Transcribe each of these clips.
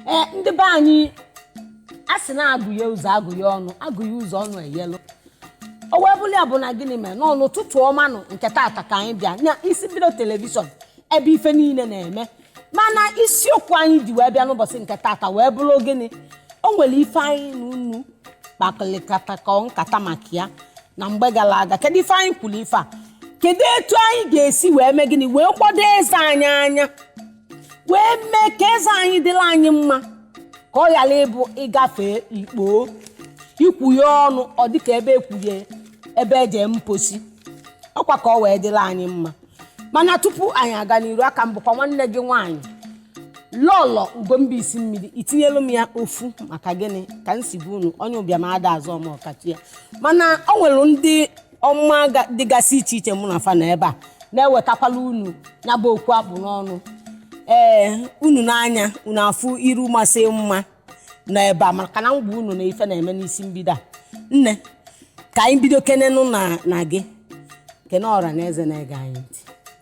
ee ndị be anyị a sị na agụye ụzọ agụye ọnụ agụye ụzọ ọnụ eyelu o wee bụrụ ya bụ na gịnị mere nọ n'ụtụtụ ọma nụ nke tata ka anyị bịa na isi mbido telivishọn ebe ife niile na-eme mana isiokwu anyị ji wee bịa n'ụbọchị nke tata wee bụrụ gịnị o nwere ife anyị na unu kpakọlịkọta ka nkata maka ya na mgbe gara aga kedu ife anyị kwuru ife a kedu etu anyị ga-esi wee mee gịnị lekwado eze anyị anya wee mee ka eze anyị dịrị anyị mma ka ọ ghara ịbụ ịgafe ikpo ikwughe ọnụ ọ dịka ebe ekwughe ebe eje mposi ọkwa ka ọ wee dịrị anyị mma mana tupu anyị aga n'iru a ka m bụkwa nwanne gị nwaanyị lọlọ ugwumba isi mmiri itinyelu m ya ofu maka gịnị ka m si gwa unu onye ụbịam ada aza ome ọkachie mana o nwere ndị ọma ga- dịgasị iche iche mụ na fa nọ ebe a na-ewetakwala unu ya bụ okwu a kpụ n'ọnụ ee unu nee anya unu afụ iru masị mma nọ ebe a maka na m gwa unu na ife na-eme n'isi mbido a nne ka anyị bidokene n'ụnọ gị kene ọra na eze na-ege anyị ntị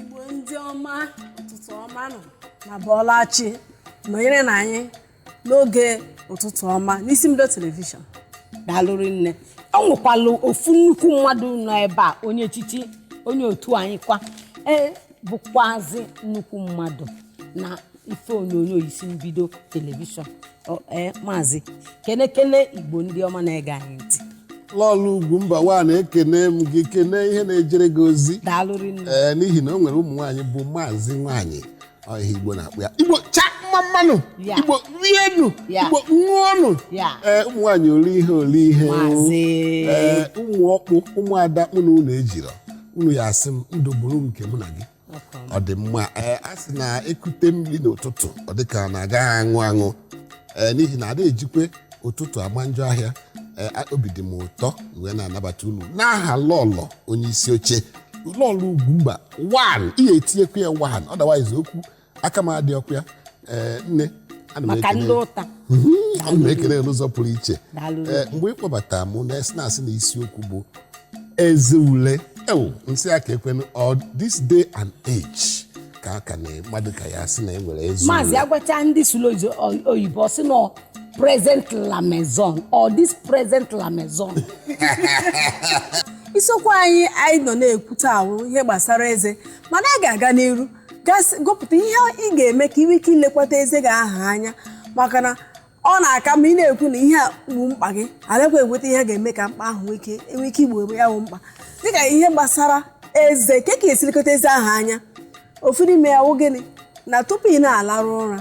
igbo ndị ọma ụtụtụ ọma nụ unu abọọla chi nọnyerenụ anyị n'oge ụtụtụ ọma n'isi mbido telivishọn daalụ rinne o nwekwalụ ofu nnukwu mmadụ nọ ebe a onye echichi onye otu anyị kwa ee bụkwazi nnukwu mmadụ na ife onyonyo isi mbido telivishọn Ọ- ee maazị kenekene igbo ndị ọma na-ege anyị ntị lọlọ ugwumba wan ekene m gị kene ihe na-ejere gị ozi daalụ rinne ee n'ihi na o nwere ụmụ nwaanyị bụ maazị nwaanyị Ọ ihe Igbo na-akpọ ya Igbo cha mma mma nụ Ya. Igbo rienu Ya. Igbo ṅụọnụ Ya. ee ụmụ nwaanyị oli ihe oli ihe Maazị. ee ụmụ ọkpụ ụmụada mụ na unu ejirọ unu ya asị m ndụ bụrụ nke mụ na gị ọ dị mma ee a sị na ekute mmiri n'ụtụtụ ọ dị ka na agaghị aṅụ aṅụ ee n'ihi na ada ejikwe ụtụtụ ama njọ ahịa ee a- obi dị m ụtọ wee na-anabata unu n'aha lọlọ onye isi oche lọlọ ugwumba wan ị ga-etinyekwa ya wan otherwise okwu aka m adị ọkụ ya ee nne ana m maka ekele ndị ụta Mhm, ana m ekele ya n'ụzọ pụrụ iche Daalụ. Ee, mgbe ị kpọbata mụ na esi na-asị na isiokwu bụ eze ule ewu m sị ya ka ekwenu ọ this day and age ka a ka na mmadụ ka ya sị na e nwere eze maazị ule agwacha ndị sụrụ oyibo ọ sị na present la maison or this present la maison isiokwu anyị anyị nọ na-ekwute ahụ ihe gbasara eze mana a ga-aga n'iru gasị gụpụta ihe ị ga-eme ka ị nwee ike ilekwata eze gị ahụ anya maka na ọ na-aka mma ị na-ekwu na ihe a bụ mkpa gị alekwa enweta ihe ga-eme ka mkpa ahụ nwee ike enwee ike igbo ya bụ mkpa dịka ihe gbasara eze ka ka esi elekọta eze ahụ anya ofu n'ime ya wụ gịnị na tupu ị na-alarụ ụra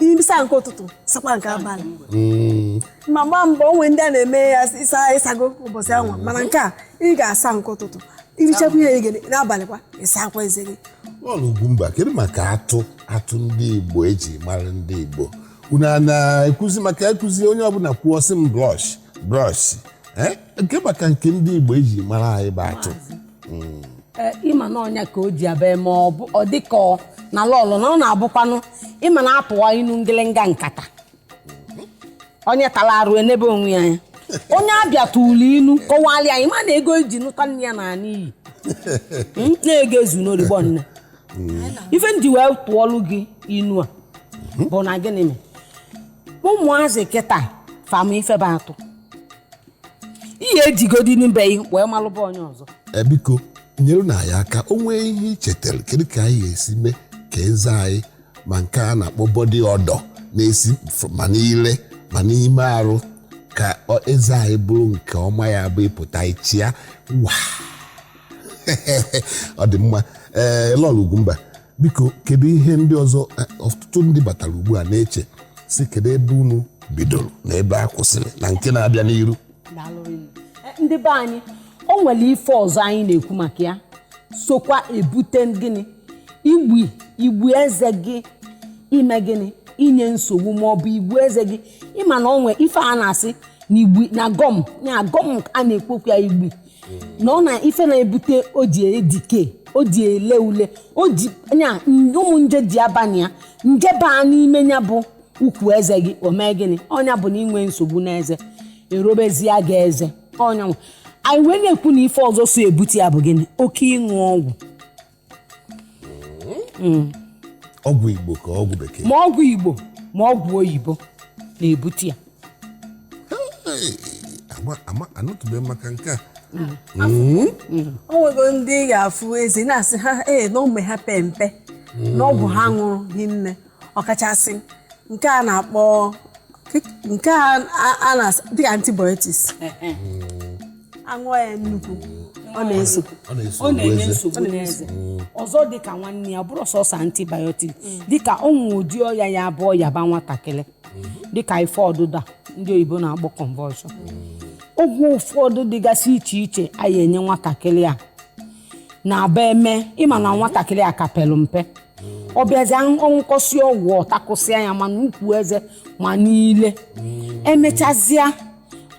ịsa nke ụtụtụ sakwa nke abalị hmm. ma gbaa mbọ o nwe ndị na-eme ya ịsa ịsago ụbọchị anwa hmm. mana nke a ị ga-asa nke ụtụtụ i richakwa ihe gị n'abalị kwa ị sakwa eze gị Lọlọ Ugwumba kedu maka atụ atụ ndị Igbo eji mara ndị Igbo unu na-ekwuzi maka ekwuzi onye ọbụla kwuo ọ sị m brush brush eh? kee maka nke ndị Igbo eji mara anyị bụ atụ mm. eh, ị ma na ọ nya ka o ji abịa ma ọ dị ka ọ na lọlọ na ọ na-abụkwanụ ị ma na a tụwa inu ngịlịnga nkata onye tara arụ enebe onwe ya anya onye a bịa tụọlụ inu kọwalị ya ma na ego e ji nụta nne ya naa n'iyi hmm, na-ego ezu n'origbo nne ife m ji wee tụọlụ gị inu a bụ na gịnị mee ụmụazị kịta fa ma ife bụ atụ ihe ejigodi n'be ya wee malụba onye ọzọ Eh, biko nyerenụ anyị aka o nwee ihe i chetara kedu ka anyị ga-esi mee ka eze anyị ma nke a na-akpọ body odour na-esi f- ma n'ile ma n'ime arụ ka ọ- eze anyị bụrụ nke ọma ya bụ ị pụta ị chịa wa ọ dị mma ee Lọlọ Ugwumba biko kedu ihe ndị ọzọ eh, ọtụtụ ndị batara ugbu a na-eche sị kedu ebe unu bidoro na ebe a kwụsịrị na nke na-abịa n'iru eh, ndị be anyị o nwere ife ọzọ anyị na-ekwu maka ya sokwa ebute gịnị igbi igbi eze gị ime gịnị inye nsogbu ma ọ bụ igbu eze gị ị ma na o nwe ife a na-asị na igbi na gum na gum a na-ekwukwa ya igbi na ọ na ife na-ebute o ji e-decay o ji ele ule o ji nya ụmụ nje ji abanye ya nje baa n'ime nya bụ ukwu eze gị o mee gịnị ọ nya bụ na i nwee nsogbu n'eze erobezie gị eze ọ nya nwa. anyị wee na-ekwu na ife ọzọ so ebute ya bụ gịnị oke ịṅụ ọgwụ ọgwụ Igbo ka ọgwụ bekee ma ọgwụ Igbo ma ọgwụ oyibo na-ebute ya Hey, ama- ama- anụtụbeghị m maka nke a o nwego ndị ị ga-afụ eze na-asị ha ee na ụmụ ha pe mpe na ọgwụ ha ṅụrụ hinne ọkachasị nke a na-akpọ nke a a- a na dịka antibiotics aṅụọ ya nnukwu ọ na-eso ọ na-eso ọ na-enye eze. nsogbu n'eze ọzọ dịka nwanne ya ọ bụrọ sọsọ antibiotics dịka o nwe ụdị ọya ya bụ ọya ba nwatakịrị dịka ife ọdụda ndị oyibo na-akpọ convulsion ọgwụ ụfọdụ dịgasị iche iche anyị enye nwatakịrị a na-aba eme ị ma na nwatakịrị a ka pelụ mpe ọ bịazi ọ ṅụkọsị ọgwụ ọ takụsịa ya ma n'ukwu eze ma niile emechazịa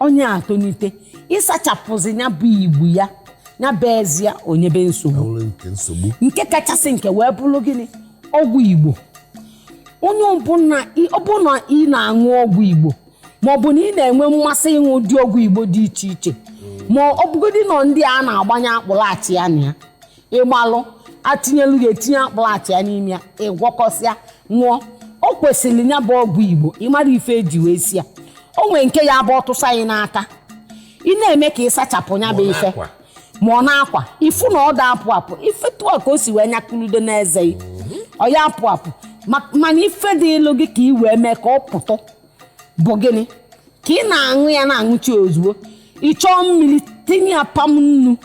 onye atonite ịsachapụzi ya bụ igbu ya ya bụ eze ya o nyebe nsogbu nke kachasị nke wee bụrụ gịnị ọgwụ igbo onye ọbụla ị na-aṅụ ọgwụ igbo ma ọ bụ na ị na-enwe mmasị ịṅụ ụdị ọgwụ igbo dị iche iche ma ọ bụgodị nọ ndị a na-agbanye akpụrụ achịa na ya ịgbalụ atinyelu ya etinye akpụlachịa n'ime ya ị gwọkọsịa ṅụọ o kwesịrị ya bụ ọgwụ igbo ịmara ife eji wee si ya o nwere nke ya bụ ọ tụsa gị n'aka ị na-eme ka ị sachapụ ya bụ ife ma ọ n'akwa ị fụ na ọ da apụ apụ ife tụọ ka o si wee nyakụludo n'eze ọ ya apụ apụ mana ife dịịlụ gị ka ị wee mee ka ọ pụtụ bụ gịnị ka ị na-aṅụ ya na-aṅụcha ozugbo ị chọọ mmiri tinye ya pam nnu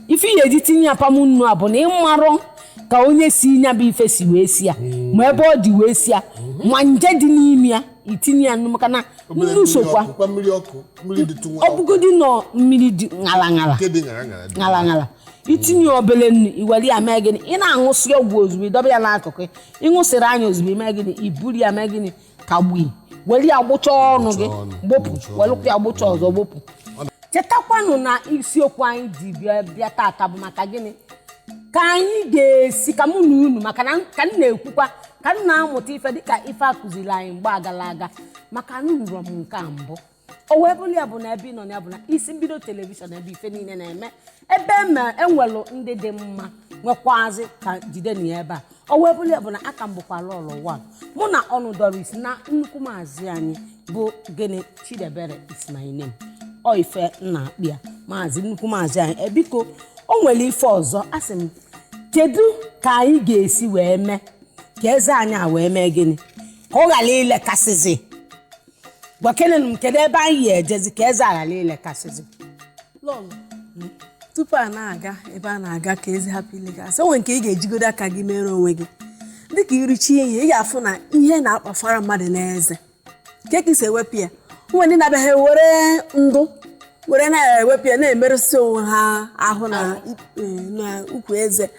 ife ị ya-eji tinye apam nnu a bụ na ị marọ ka onye si nya bụ ife si wee si ya ma ebe ọ dị wee si ya ma nje dị n'ime ya i tinye ya nnu maka na nnu sokwa ọ bụgodị nọ mmiri dị ṅala ṅala ṅala ṅala i tinye obele nnu i were ya mee gịnị ị na-aṅụsị ọgwụ ozugbo ị dọba ya n'akụkụ ị ṅụsịrị anya ozugbo i mee gịnị i buru ya mee gịnị ka ọ bụ i were ya gbụcha ọnụ gị gbọpụ welụkwa ya gbụcha ọzọ gbọpụ chetakwanụ na isiokwu anyị ji bịa tata bụ maka gịnị ka anyị ga-esi ka mụ na unu maka na ka m na-ekwukwa ka m na-amụta ife dịka ife a kụziri anyị mgbe agala aga maka na anụrọ m nke a mbụ o wee bụrụ ya bụ na ebe ị nọ na ya bụ na isi mbido telivishọn ebe ife niile na-eme ebe enwelụ ndị dị mma nwekwazị ka jide na ya ebe a o wee bụrụ ya bụ na aka m bụkwa lọlọ mụ na ọnụ Doris na nnukwu maazị anyị bụ gịnị Chidebere is my name ọ ife m na-akpọ ya maazị nnukwu maazị anyị eh biko o nwere ife ọzọ asị m kedu ka anyị ga-esi wee mee ka eze anyị a wee mee gịnị ka ọ ghara ilekasịzi gwakenenu m kedu ebe anyị ya-ejezi ka eze ghara ilekasịzi tupu a na-aga ebe a na-aga ka eze hapụ ilekasị o nwere nke ị ga-ejigodo aka gị mere onwe gị dịka i richa ihe ị ga-afụ na ihe na-akpafara mmadụ n'eze nke ka i si ewepụ ya o nwe ndị na-abịaghị were ndụ were na-ewepụ ya na-emerụsị onwe ha ahụ na ukwu eze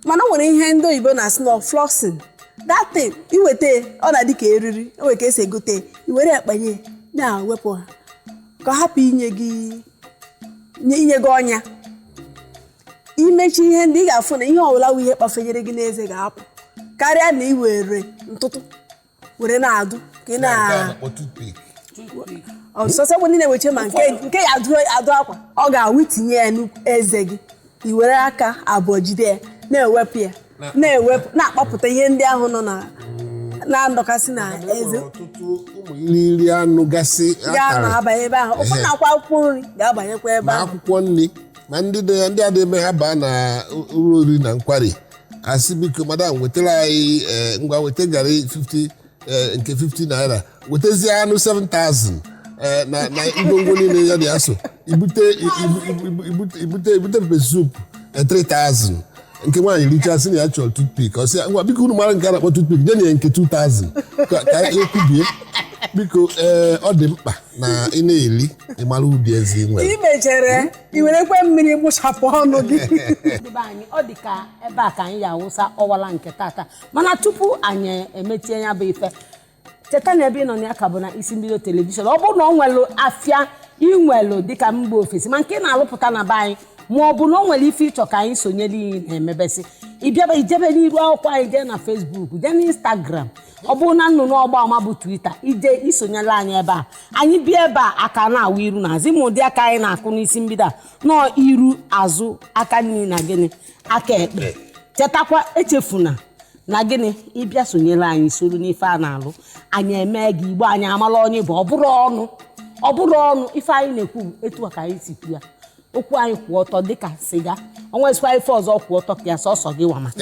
mana o nwere ihe ndị oyibo na-asị na flossing that thing i weta ya, ọ na-adị ka eriri o nwere ka esi egote ya, i were ya kpanye ya, na-ewepụ ha ka ọ hapụ inye gị ọnya i mecha ihe ndị ị ga-afụ na ihe ọbụla wụ ihe kpafenyere gị n'eze ga-apụ karịa na ị were ntụtụ were na-adụ ka ị na ọsọsọ bụ ndị na-eweche ma nke eji adụ akwa ọ ga-awụ i tinye ya n'eze gị i were aka abụọ jide ya na-ewepụ ya na-ewepụ na-akpọpụta ihe ndị ahụ nọ na na-adọkasị na eze ọtụtụ ụmụ irighiri anụ gasị ga-anọ akara abanye ebe ahụ ụfọdụ nakwa akwụkwọ nri ga-abanyekwa ebe ahụ akwụkwọ nri ma ndị dị ya ndị a na-eme ha baa na ụlọ oriri na nkwari asị biko madam wetara anyị eh, ngwa weta garị 50 eh, nke 50 naira wetazie anụ 7000 eh, na na ngwongwo niile ya dị ya so ibute ibu- ibu- ibu- ibute ibute ibute pepe soup eh, 3000 nke nwaanyị richa sị na ya chọrọ toothpick ọ sị ya ngwa biko unu mara nke a na-akpọ toothpick nyenụ ya nke 2000 ka ka ya kwubie biko ee ọ dị mkpa na ị na-eri ị mara ụdị eze ị nwere i mechere i werekwe mmiri gbụchapụ ọnụ gị ndị be anyị ọ dị ka ebe a ka anyị ya awụsa ọwala nke tata mana tupu anyị emechie ya bụ ife cheta na ebe ị nọ na ya ka bụ na isi mbido telivishọn ọ bụrụ na ọ nwelụ afịa i nwelụ dịka mba ofesi ma nke ị na-alụpụta na be anyị ma ọ bụ na ọ nwere ife ị chọ ka anyị sonyere gị na-emebesị ị bịaba i jebe n'iru akwụkwọ anyị jee na Facebook jee na instagram ọ bụrụ na nnụnụ ọgba ama bụ Twitter i je isonyere anyị ebe a anyị bịa ebe a aka na-awụ iru na azụ ị ma ụdị aka anyị na-akụ n'isi mbido a nọọ iru azụ aka nri na gịnị aka ekpe chetakwa echefuna na gịnị ị bịa sonyere anyị soro n'ife a na-alụ anyị eme gị igbo anyị amala onye bụ ọ bụrụ ọnụ ọ bụrụ ọnụ ife anyị na-ekwu bụ etu a ka anyị si kwu ya okwu anyị kwụ ọtọ dịka siga o nwezikwa ife ọzọ kwụ ọtọ ka ya sọsọ gị wa ma